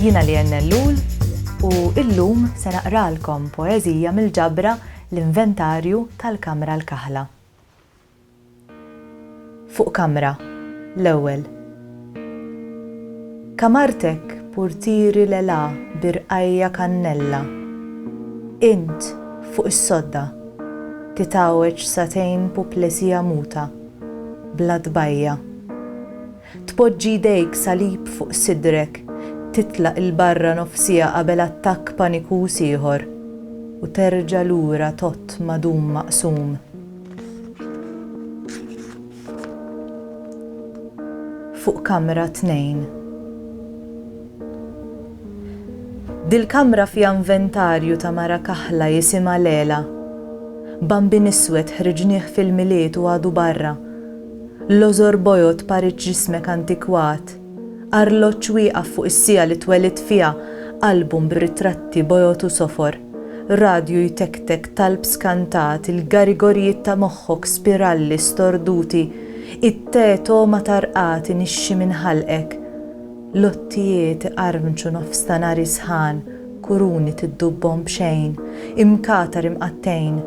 Jiena Lianne Ellul u illum se naqralkom poeżija mill-ġabra L-Inventarju tal-Kamra l-Kaħla. Fuq kamra, l-ewwel. Kamartek purtieri l-għela bi rqajja kannella. Int, fuq is-sodda, titgħawweġ sagħtejn puplesija muta, bla tbajja'. Tpoġġi jdejk salib fuq sidrek, titlaq 'il barra nofs siegħa qabel attakk panikuż ieħor, u terġa' lura tgħodd madum maqsum. Fuq kamra tnejn. Dil-kamra fiha inventarju ta' mara kaħla jisimha Lela. Bambin iswed ħriġnieh fil-Milied u għadu barra. L-għożor bojod parid ġismek antikwat, arloġġ wieqaf fuq is-siegħa li twelidt fiha, album b'ritratti bojod u sofor, radju jtektek, talb skantat, il-garigorijiet ta' moħħok, spiralli storduti, it-te togħma tarqad inixxi minn ħalqek. Lottijiet iqarmċu nofs ta' nari sħan, kuruni tiddubbhom b'xejn, imkatar imqattgħin,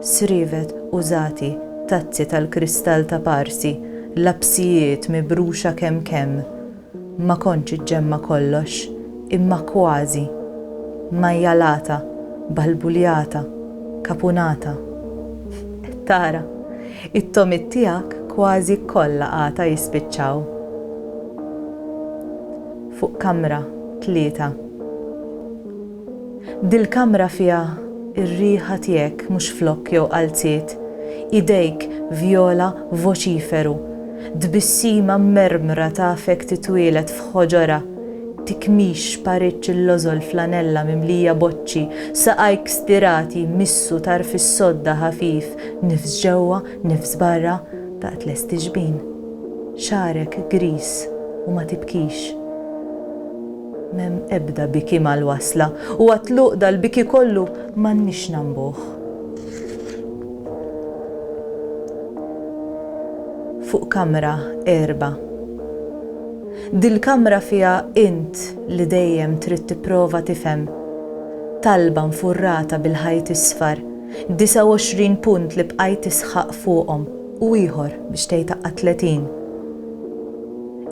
srievet użati, tazzi tal-kristall ta' Parsi, lapsijiet mibruxa kemm kemm. Ma kontx iġġemma' kollox, imma kważi. Majjalata, balbuljata, kapunata. Qed tara? It-togħmiet tiegħek kważi kollha għata jispiċċaw. fuq kamra tlieta. Dil-kamra fiha r-riħa tiegħek mhux flokk jew qalziet, idejk vjola voċiferu, tbissima mmermra tafek titwieled f'ħoġorha, tikmix paritx il-lożol flanella mimlija boċċi, saqajk stirati jmissu tarf is-sodda ħafif nifs ġewwa Nifs barra, daqt lesti xbin. Xagħrek griż u ma tibkix. M'hemm ebda biki mal-wasla u għat-tluq dal-biki kollu m'għandniex nagħmbuh. Fuq kamra għerba. Dil-kamra fiha int li dejjem trid tipprova tifhem. Talba nfurrata bil-ħajt isfar. 29 punt li bqajt tisħaq fuqhom u ieħor biex tgħid aqqa' 30.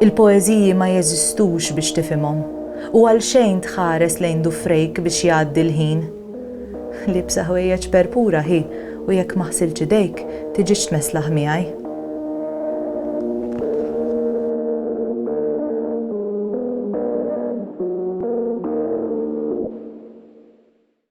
Il-poeżiji ma jeżistux biex tifhimhom u għalxejn tħares lejn dufrejk biex jgħaddi l-ħin. Liebsa ħwejjeġ perpura hi u jekk ma ħsiltx idejk, tiġix tmesslaħ miegħi.